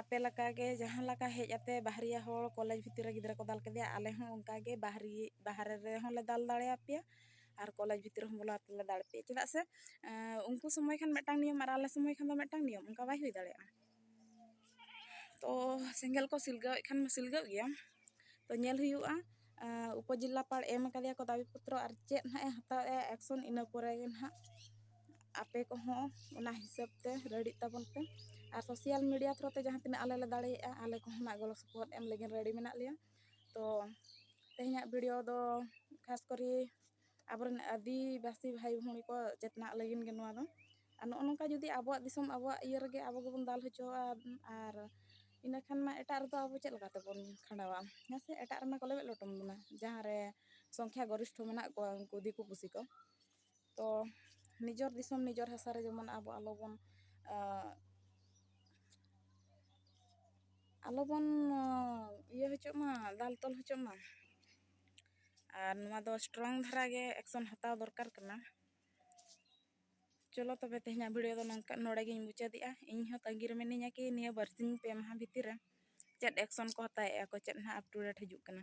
ᱟᱯᱮ ᱞᱮᱠᱟ ᱜᱮ ᱡᱟᱦᱟᱸ ᱞᱮᱠᱟ ᱦᱮᱡ ᱟᱛᱮ ᱵᱟᱦᱨᱮᱭᱟ ᱦᱚᱲ ᱠᱚᱞᱮᱡᱽ ᱵᱷᱤᱛᱤᱨ ᱨᱮ ᱜᱤᱫᱽᱨᱟᱹ ᱠᱚ ᱫᱟᱞ ᱠᱮᱫᱮᱭᱟ ᱟᱞᱮ ᱦᱚᱸ ᱚᱱᱠᱟ ᱜᱮ ᱵᱟᱦᱨᱮ ᱵᱟᱦᱨᱮ ᱨᱮᱦᱚᱸ ᱞᱮ ᱫᱟᱞ ᱫᱟᱲᱮᱭᱟᱯᱮᱭᱟ ᱟᱨ ᱠᱚᱞᱮᱡᱽ ᱵᱷᱤᱛᱨᱤ ᱨᱮᱦᱚᱸ ᱵᱚᱞᱚ ᱠᱟᱛᱮᱫ ᱞᱮ ᱫᱟᱲᱮ ᱯᱮᱭᱟ ᱪᱮᱫᱟᱜ ᱥᱮ ᱩᱱᱠᱩ ᱥᱚᱢᱚᱭ ᱠᱷᱟᱱ ᱢᱤᱫᱴᱟᱝ ᱱᱤᱭᱚᱢ ᱟᱨ ᱟᱞᱮ ᱥᱚᱢᱚᱭ ᱠᱷᱟᱱ ᱫᱚ ᱢᱤᱫᱴᱟᱝ ᱱᱤᱭᱚᱢ ᱚᱱᱠᱟ ᱵᱟᱭ ᱦᱩᱭ ᱫᱟᱲᱮᱭᱟᱜᱼᱟ ᱛᱚ ᱥᱮᱸᱜᱮᱞ ᱠᱚ ᱥᱤᱞᱜᱟᱹᱣᱮᱫ ᱠᱷᱟᱱ ᱢᱟ ᱥᱤᱞᱜᱟᱹᱜ ᱜᱮᱭᱟ ᱛᱚ ᱧᱮᱞ ᱦᱩᱭᱩᱜᱼᱟ ᱩᱯᱚᱡᱮᱞᱟᱯᱟᱲ ᱮᱢ ᱠᱟᱫᱮᱭᱟ ᱠᱚ ᱫᱟᱵᱤ ᱯᱚᱛᱨᱚ ᱟᱨ ᱪᱮᱫ ᱦᱟᱸᱜ ᱮ ᱦᱟᱛᱟᱣᱮᱜᱼᱟ ᱮᱠᱥᱚᱱ ᱤᱱᱟᱹ ᱯᱚᱨᱮ ᱜᱮ ᱦᱟᱸᱜ ᱟᱯᱮ ᱠᱚᱦᱚᱸ ᱚᱱᱟ ᱦᱤᱥᱟᱹᱵ ᱛᱮ ᱨᱮᱰᱤᱜ ᱛᱟᱵᱚᱱ ᱯᱮ ᱟᱨ ᱥᱳᱥᱟᱞ ᱢᱤᱰᱤᱭᱟ ᱛᱷᱨᱩ ᱛᱮ ᱡᱟᱦᱟᱸ ᱛᱤᱱᱟᱹᱜ ᱟᱞᱮ ᱞᱮ ᱫᱟᱲᱮᱭᱟᱜᱼᱟ ᱟᱞᱮ ᱠᱚᱦᱚᱸ ᱱᱟᱜ ᱜᱚᱲᱚ ᱥᱚᱯᱚᱦᱚᱫ ᱮᱢ ᱞᱟᱹᱜᱤᱫ ᱨᱮᱰᱤ ᱢᱮᱱᱟᱜ ᱞᱮᱭᱟ ᱛᱚ ᱛᱮᱦᱮᱧᱟᱜ ᱵᱷᱤᱰᱭᱳ ᱫᱚ ᱠᱷᱟᱥ ᱠᱚᱨᱮ ᱟᱵᱚᱨᱮᱱ ᱟᱹᱫᱤᱵᱟᱹᱥᱤ ᱵᱷᱟᱭ ᱵᱷᱩᱝᱲᱤ ᱠᱚ ᱪᱮᱛᱱᱟᱜ ᱞᱟᱹᱜᱤᱫ ᱜᱮ ᱱᱚᱣᱟ ᱫᱚ ᱟᱨ ᱱᱚᱜᱼᱚ ᱱᱚᱝᱠᱟ ᱡᱩᱫᱤ ᱟᱵᱚᱣᱟᱜ ᱫᱤᱥᱚᱢ ᱟᱵᱚᱣᱟᱜ ᱤᱭᱟᱹ ᱨᱮᱜᱮ ᱟᱵᱚ ᱜᱮᱵᱚᱱ ᱫᱟᱞ ᱦᱚᱪᱚᱣᱟᱜᱼᱟ ᱟᱨ ᱤᱱᱟᱹ ᱠᱷᱟᱱ ᱢᱟ ᱮᱴᱟᱜ ᱨᱮᱫᱚ ᱟᱵᱚ ᱪᱮᱫ ᱞᱮᱠᱟ ᱛᱮᱵᱚᱱ ᱠᱷᱟᱸᱰᱟᱣᱟ ᱦᱮᱸ ᱥᱮ ᱮᱴᱟᱜ ᱨᱮᱢᱟ ᱠᱚ ᱞᱮᱵᱮᱫ ᱞᱚᱴᱚᱢ ᱵᱚᱱᱟ ᱡᱟᱦᱟᱸ ᱨᱮ ᱥᱚᱝᱠᱷᱟ ᱜᱚᱨᱤᱥᱴᱷᱚ ᱢᱮᱱᱟᱜ ᱠᱚᱣᱟ ᱩᱱᱠᱩ ᱫᱤᱠᱩ ᱯᱩᱥᱤ ᱠᱚ ᱛᱚ ᱱᱤᱡᱚᱨ ᱫᱤᱥᱚᱢ ᱱᱤᱡᱚᱨ ᱦᱟᱥᱟ ᱨᱮ ᱡᱮᱢᱚᱱ ᱟᱵᱚ ᱟᱞᱚ ᱵᱚᱱ ᱟᱞᱚ ᱵᱚᱱ ᱤᱭᱟᱹ ᱦᱚᱪᱚᱜ ᱢᱟ ᱫᱟᱞ ᱛᱚᱞ ᱦᱚᱪᱚᱜ ᱢᱟ ᱟᱨ ᱱᱚᱣᱟ ᱫᱚ ᱥᱴᱨᱚᱝ ᱫᱷᱟᱨᱟ ᱜᱮ ᱮᱠᱥᱚᱱ ᱦᱟᱛᱟᱣ ᱫᱚᱨᱠᱟᱨ ᱠᱟᱱᱟ ᱪᱚᱞᱚ ᱛᱚᱵᱮ ᱛᱮᱦᱮᱧᱟᱜ ᱵᱷᱤᱰᱤᱭᱳ ᱫᱚ ᱱᱚᱝᱠᱟ ᱱᱚᱰᱮ ᱜᱤᱧ ᱢᱩᱪᱟᱹᱫᱮᱜᱼᱟ ᱤᱧ ᱦᱚᱸ ᱛᱟᱺᱜᱤ ᱨᱮ ᱢᱤᱱᱟᱹᱧᱟ ᱠᱤ ᱱᱤᱭᱟᱹ ᱵᱟᱨᱥᱤᱧ ᱯᱮ ᱢᱟᱦᱟ ᱵᱷᱤᱛᱤᱨ ᱨᱮ ᱪᱮᱫ ᱮᱠᱥᱚᱱ ᱠᱚ ᱦᱟᱛᱟᱣᱮᱜᱼᱟ ᱠᱚ ᱪᱮᱫ ᱦᱟᱸᱜ ᱟᱯᱴᱩᱰᱮᱴ ᱦᱤᱡᱩᱜ ᱠᱟᱱᱟ